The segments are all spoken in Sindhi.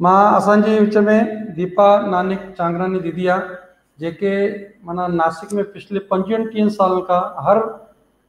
مان اسان جي وچ ۾ ديپا نانڪ چانگراني ديدي آ جيڪي معنيٰ ناسڪ ۾ پڇلي پنجويهن ٽيهن سالن کان هر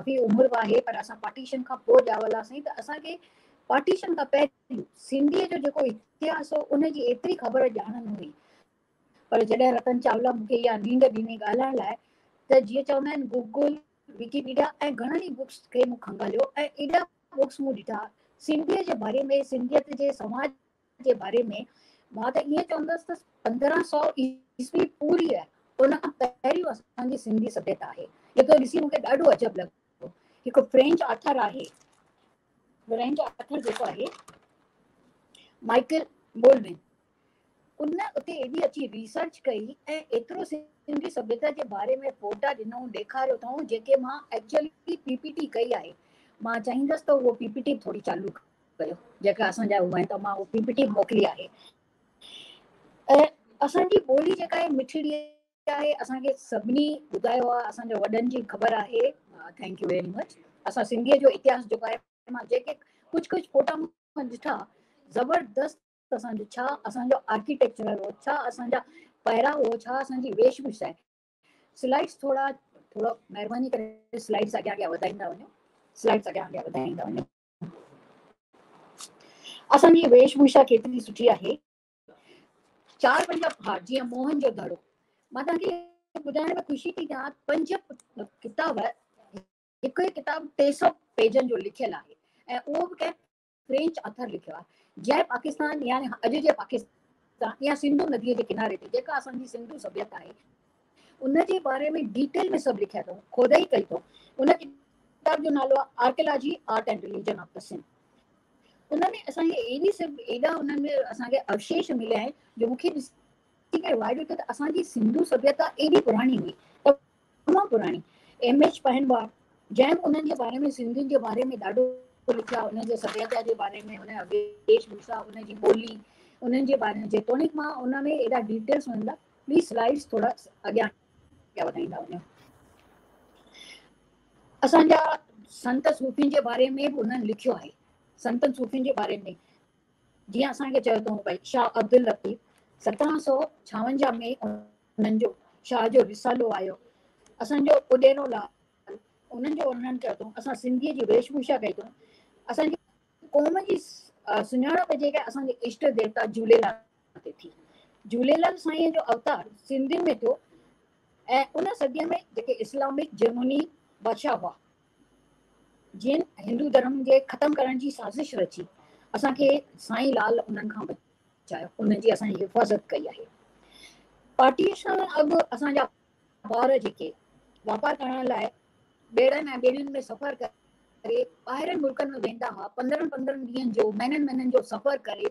ڪافي عمر به آهي پر اسان پارٽيشن کان پوء ڄاولاسين ته اسان کي پارٽيشن کان پهريون سنڌيء جو جيڪو اتهاس هو ان جي ايتري خبر ڄاڻ نه هئي پر جڏهن رتن چاولا مون کي اها نينڊ ڏني ڳالهائڻ لاء ته جيئن چوندا آهن گوگل، وڪيپيڊيا ۽ گهڻن ئي بڪس کي مون کنگهاليو ۽ ايڏا بڪس مون ڏٺا سنڌيء جي باري ۾ سنڌيت جي سماج جي باري ۾ مان ته ائين چوندس ته پندرهن سؤ عيسوي پوريء ان کان پهريون اسان جي سنڌي سڀيتا آهي، جيڪو ڏسي مون کي ڏاڍو عجب لڳو. هڪ فرينچ آٿر آهي، فرينچ آٿر جيڪو آهي مائيڪل مولمين، ان اتي ايڏي اچي ريسرچ ڪئي ۽ ايترو سنڌي سڀيتا جي باري ۾ فوٽا ڏنائون ڏيکاريو اٿائون جيڪي مان ايڪچوئلي پي پي ٽي ڪئي آهي، مان چاهيندس ته اهو پي پي ٽي به ٿوري چالو ڪيو جيڪا اسان جا هئا ته مان اهو پيپٽي موڪلي آهي ۽ اسان جي ٻولي جيڪا آهي مٺڙي آهي اسان کي سڀني ٻڌايو آهي اسان جي وڏن جي خبر آهي ٿينڪ يو ويري مچ اسان سنڌي جو اتهاس جيڪو آهي مان جيڪي ڪجهه ڪجهه فوٽا مان ڏٺا زبردست اسان جو ڇا اسان جو آرڪيٽيڪچرل هو ڇا اسان جا پهرا هو ڇا اسان جي ويش ڀوشا آهي سلائيڊس ٿورا ٿورا مهرباني ڪري سلائيڊس اڳيان اڳيان وڌائيندا وڃو سلائيڊس اڳيان اڳيان وڌائيندا وڃو اسان جي ويش ڀوشا ڪيتري سٺي آهي. چار پنج پهاڙ جيئن موهن جو دڙو. مان توهان کي ٻڌائڻ ۾ خوشي ٿي ٿيان پنج ڪتاب هڪ هڪ ڪتاب ٽي سؤ پيجن جو لکيل آهي ۽ اهو به ڪنهن فرينچ آٿر لکيو آهي جنهن پاڪستان يعني اڄ جي پاڪستان يا سنڌو نديء جي ڪناري تي جيڪا اسان جي سنڌو سڀيتا آهي ان جي باري ۾ ڊيٽيل ۾ سڀ لکيا اٿئون، کودئي ڪئي اٿئون. ان ڪتاب جو نالو آهي archaeology, art and religion of the Sindh. ان ۾ اسان کي اهڙي سڀ ايڏا انهن ۾ اسان کي اوشيش مليا آهن جو مون کي ڏسي ڪري وائڙو اٿيو ته اسان جي سنڌو سڀيتا ايڏي پراڻي هئي، تمام پراڻي. ايم ايڇ پهنواڙ جنهن به انهن جي باري ۾ سنڌين جي باري ۾ ڏاڍو لکيا انهن جي سڀيتا جي باري ۾ انهن جا ويش ڀوسا انهن جي ٻولي انهن جي باري ۾ جيتوڻيڪ مان ان ۾ ايڏا ڊيٽيلز وڃندا پليز سلائيڊس ٿورا اڳيان پيا وڌائيندا وڃو. اسان جا سنت صوفين جي باري ۾ به انهن لکيو آهي. سنتن صوفين جي باري ۾ جيئن اسان کي چيو اٿئون ڀائی شاهه عبداللطيف سترهن سو ڇاونجاهه ۾ انهن جو شاهه جو رسالو آيو اسان جو اڏيرو لال انهن جو ورنن ڪيو اٿئون اسان سنڌي جي ويش ڀوشا ڪئي اٿئون اسان جي قوم جي سڃاڻپ جيڪا اسان جي اشٽ ديوتا جھوليلال تي ٿي. جهوليلال سائينء جو اوتار سنڌين ۾ ٿيو ۽ ان صديء ۾ جيڪي اسلامڪ جرمني بادشاهه هئا، جن هندو ڌرم جي ختم ڪرڻ جي سازش رچي، اسان کي سائين لال انهن کان بچايو، انهن جي اسان حفاظت ڪئي آهي. پارٽيشن اڳ اسان جا ٻار جيڪي واپار ڪرڻ لاء ٻيڙن ۽ ٻيڙين ۾ سفر ڪري ٻاهرين ملڪن ۾ ويندا هئا، پندرهن پندرهن ڏينهن جو، مهينن مهينن جو سفر ڪري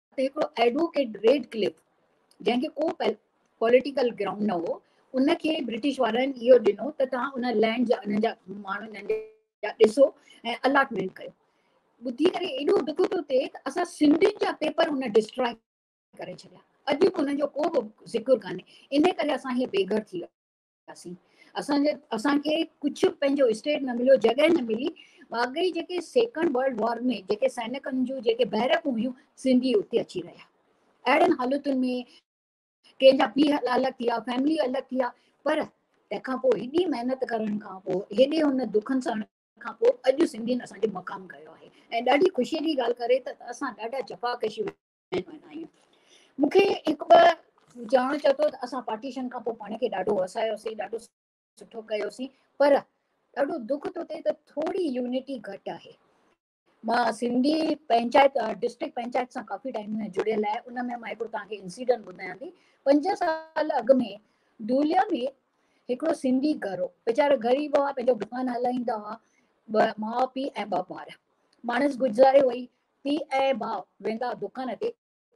ته هڪڙو ايڊووڪيٽ ريڊ ڪلف جنهن کي ڪو پوليٽيڪل گرائونڊ نه هو ان کي برٽش وارن اهو ڏنو ته توهان ان لينڊ جا انهن جا ماڻهو انهن جا ڏسو ۽ الاٽمينٽ ڪيو ٻڌي ڪري ايڏو ڏک ٿو ٿئي ته اسان سنڌين جا پيپر هن ڊسٽراء ڪري ڇڏيا اڄ به انهن جو ڪو به ذڪر ڪانهي ان ڪري اسان هي بي گهر ٿي ويا ڪياسين اسان جي اسان کي ڪجهه پنهنجو اسٽيٽ نه مليو جڳهه نه ملي واقعي جيڪي سيڪنڊ ورلڊ وار ۾ جيڪي سينڪن جون جيڪي بيرڪون هيون سنڌي اتي اچي رهيا اهڙن حالتن ۾ ڪنهن جا پيء الڳ ٿي ويا فيملي الڳ ٿي ويا پر تنهنکان پوء هيڏي محنت ڪرڻ کان پوء هيڏي هن دکن سهڻ کان پوء اڄ سنڌين اسانجو مقام ڪيو آهي ۽ ڏاڍي خوشي جي ڳالهه ڪري ته اسان ڏاڍا جفا ڪشي مهمان آيون. مون کي هڪ ٻه جاڻ چئي ٿو ته اسان پارٽيشن کان پوء پاڻ کي ڏاڍو وسايوسين، ڏاڍو سٺو ڪيوسين پر ڏاڍو دک ٿو ٿئي ته ٿوري يونٽي گهٽ آهي. مان سنڌي پنچائت ڊسٽرڪٽ پنچائت سان ڪافي ٽائيم ۾ جڙيل آهي ان ۾ مان هڪڙو توهان کي انسيڊنٽ ٻڌايان ٿي پنج سال اڳ ۾ دوليا ۾ هڪڙو سنڌي گهر هو ويچارا غريب هئا پنهنجو دڪان هلائيندا هئا ماء پيء ۽ ٻه ٻار ماڻس گذاري وئي پيء ۽ ڀاء ويندا دڪان تي،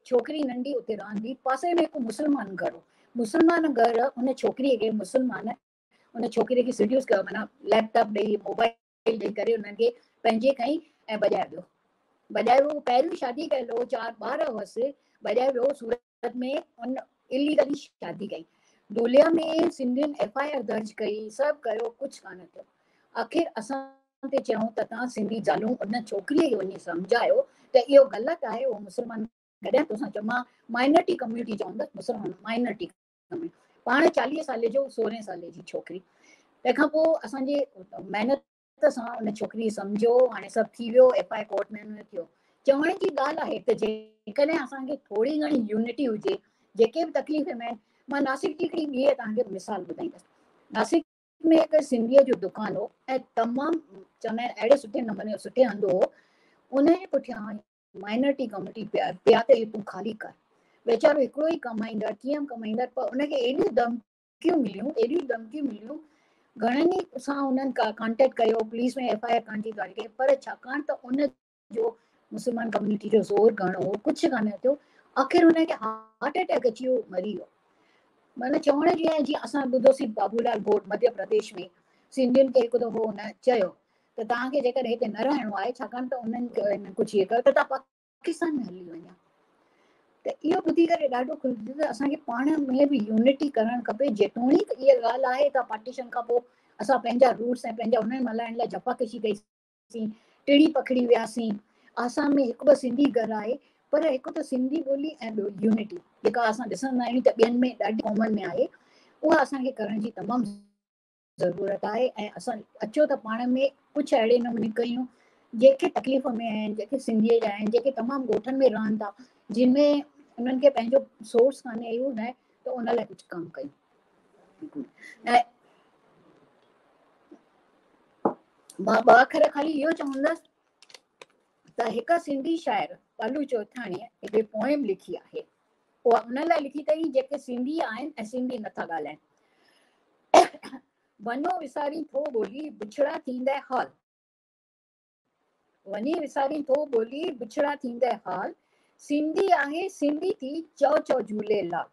ڇوڪري ننڍي اتي رهندي، پاسي ۾ هڪ مسلمان گهر هو، مسلمان گهر ان ڇوڪري کي مسلمان ان ڇوڪري کي سيڊيوس ڪيو معنيٰ ليپ ٽاپ ڏئي موبائل ڏئي ڪري انهن کي پنهنجي ڪئي ۽ ڀڄائي ويو ڀڄائي ويو پهريون شادي ڪيل هو چار ٻار هئس ڀڄائي ويو سورت بعد ۾ هن اليگلي شادي ڪئي ڍوليا ۾ سنڌين ايف آء آر درج ڪئي سڀ ڪيو ڪجهه ڪانه ٿيو آخر اسان تي چيائون ته تان سنڌي زالون ان ڇوڪري کي وڃي سمجهايو ته اهو غلط آهي اهو مسلمان گڏهن توسان چئو مان مائنرٽي ڪميونٽي چوندس مسلمان مائنرٽي پاڻ چاليهه سالي جو سورهين سالي جي ڇوڪري تنهن کان پوء اسان جي محنت عزت سان ان ڇوڪري سمجهيو هاڻي سڀ ٿي ويو ايف آء ڪورٽ ۾ نه ٿيو چوڻ جي ڳالهه آهي ته جيڪڏهن اسان کي ٿوري گهڻي يونٽي هجي جيڪي به تڪليف ۾ مان ناسڪ جي هڪڙي ٻي توهان کي مثال ٻڌائيندس ناسڪ ۾ هڪ سنڌيء جو دڪان هو ۽ تمام چوندا آهن اهڙي سٺي نموني سٺي هندو هو ان جي پٺيان مائنورٽي ڪميونٽي پيا پيا ته تون خالي ڪر ويچارو هڪڙو ئي ڪمائيندڙ ڪيئن ڪمائيندڙ پر ان کي ايڏي دم ڌمڪيون مليون اهڙيون ڌمڪيون مليون گهڻن ئي سان انهن ڪانٽيڪٽ ڪيو پوليس ۾ ايف آء آر ڪرڻ جي ڳالهه ڪئي پر ڇاڪاڻ ته ان جو مسلمان ڪميونٽي جو زور گهڻو هو ڪجهه ڪانه ٿيو آخر هن کي هارٽ اٽيڪ اچي ويو مري ويو مانا چوڻ جي آهي جيئن اسان ٻڌوسين بابولال گوٽ مڌيا پرديش ۾ سنڌين کي هڪ دفعو هن چيو ته تهان کي جيڪڏهن هتي نه رهڻو آهي ڇاڪاڻ ته انهن ڪجهه هي ڪيو ته تهان پاڪستان ۾ هلي وڃان ته اهو ٻڌي ڪري ڏاڍو خوش ٿيس ته اسان کي پاڻ ۾ به يونٽي ڪرڻ کپي جيتوڻيڪ اها ڳالهه آهي ته پارٽيشن کان پوء اسان پنهنجا روٽس ۽ پنهنجا انهن ملهائڻ لاء جفاڪشي ڪئيسين ٽڙي پکڙي وياسين آسام ۾ هڪ ٻه سنڌي گهر آهي پر هڪ ته سنڌي ٻولي ۽ ٻيو يونٽي جيڪا اسان ڏسندا آهيون ته ٻين ۾ ڏاڍي قومن ۾ آهي اها اسان کي ڪرڻ جي تمام ضرورت آهي ۽ اسان اچو ته پاڻ ۾ ڪجهه اهڙي نموني ڪيون جيڪي تڪليف ۾ آهن جيڪي سنڌي جا آهن جيڪي تمام ڳوٺن ۾ رهن ٿا جن ۾ انهن کي پنهنجو سورس ڪانه اهو نه ته ان لاء ڪجهه ڪم ڪيون مان ٻ اکر خالي اهو چوندس ته هڪ سنڌي شاعر پلو چوٿاڻي هڪ پوئم لکي آهي اها انهن لاء لکي اٿئي جيڪي سنڌي آهن ۽ سنڌي نٿا ڳالهائين. وڃو وسارين ٿو ٻولي، بڇڙا ٿيندئه حال. وڃي وسارين ٿو ٻولي، بڇڙا ٿيندئه حال. سنڌي آهي سنڌي ٿي، چئو چئو Jhulelal.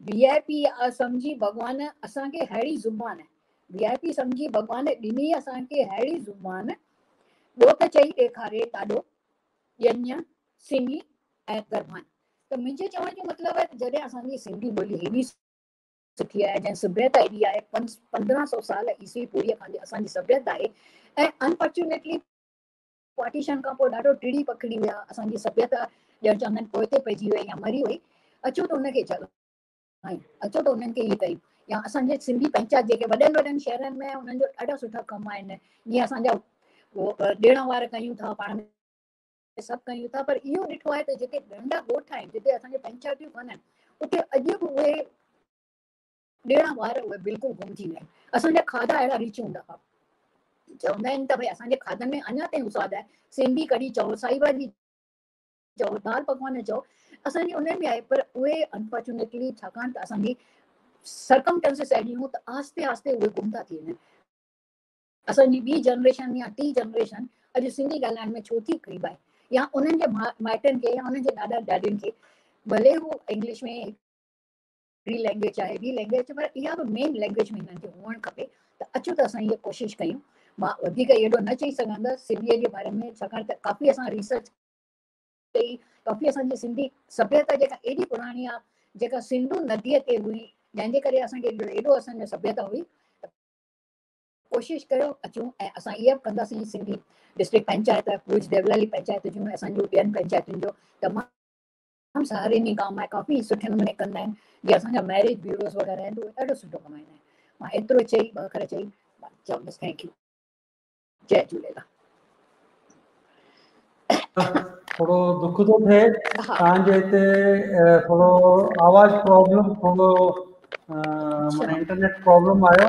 V I P سمجهي ڀڳوان اسان کي ههڙي زبان. وي آء پي سمجهي ڀڳوان ڏني اسان کي ههڙي زبان. ٻيو ته چئي ڏيکاري ڏاڏو ڄڃ. سنهي ۽ گرڀان ته منهنجي چوڻ جو مطلب آهي ته جڏهن اسان جي سنڌي ٻولي هيڏي سٺي آهي جنهن سڀيتا هيڏي آهي پندرهن سو سال عيسوي پوريء کان جي اسان جي سڀيتا آهي ۽ انفارچونيٽلي پارٽيشن کان پوء ڏاڍو ٽڙي پکڙي ويا اسان جي سڀيتا ڄڻ چوندا آهن پوئتي پئجي وئي يا مري وئي اچو ته ان کي جڳ آهن اچو ته انهن کي هي ڪيون يا اسان جي سنڌي پنچات جيڪي وڏن وڏن شهرن ۾ انهن جو ڏاڍا سٺا ڪم آهن جيئن اسان جا ڏيڻ وار ڪيون ٿا پاڻ سڀ ڪيون ٿا پر اهو ڏٺو آهي ته جيڪي ننڍا ڳوٺ آهن جتي اسان جون پنچايتون ڪانهن اتي اڄ به اهي ڏيڻا وار اهي بلڪل گم ٿي ويا آهن اسان جا کاڌا اهڙا ريچ هوندا هئا چوندا آهن ته ڀئي اسان جي کاڌن ۾ اڃا تائين سواد آهي سنڌي ڪڙي چئو سائي ڀاڄي چئو دال پڪوان چئو اسان جي انهن ۾ آهي پر اهي انفارچونيٽلي ڇاڪاڻ ته اسان جي سرڪمٽنسز اهڙيون ته آهستي آهستي اهي گم ٿا ٿي وڃن اسان جي ٻي جنريشن يا ٽين جنريشن اڄ سنڌي ڳالهائڻ ۾ ڇو ٿي ڪڙٻائي يا انهن جي مائٽن کي يا انهن جي ڏاڏا ڏاڏين کي ڀلي هو انگلش ۾ هڪڙي لينگويج آهي ٻي لينگويج آهي پر اها به مين لينگويج ۾ هنن کي هئڻ کپي ته اچو ته اسان هيء ڪوشش ڪيون مان وڌيڪ اهڙو نه چئي سگهندس سنڌيء جي باري ۾ ڇاڪاڻ ته ڪافي اسان ريسرچ ڪئي ڪافي اسان جي سنڌي سڀيتا جيڪا ايڏي پراڻي آهي جيڪا سنڌو نديء تي هئي جنهن جي ڪري اسان کي ايڏو اسان جو سڀيتا هئي ڪوشش ڪيو اچون ۽ اسان اها به ڪنداسين سنڌي ڊسٽرڪٽ پنچائت ڀوڄ ديولالي پنچائت جون اسان جون ٻين پنچائتن جو تمام تمام سهاريني ڪام آهي ڪافي سٺي نموني ڪندا آهن جي اسان جا ميريج بيوروز وغيره آهن اهي ڏاڍو سٺو ڪم آهن مان ايترو چئي ٻه اکر چئي مان چئم بس ٿينڪ يو جي جهوليلال ٿورو دک ٿو ٿئي تان جي هتي ٿورو آواز پرابلم ٿورو معنی انٽرنيٽ پرابلم آيو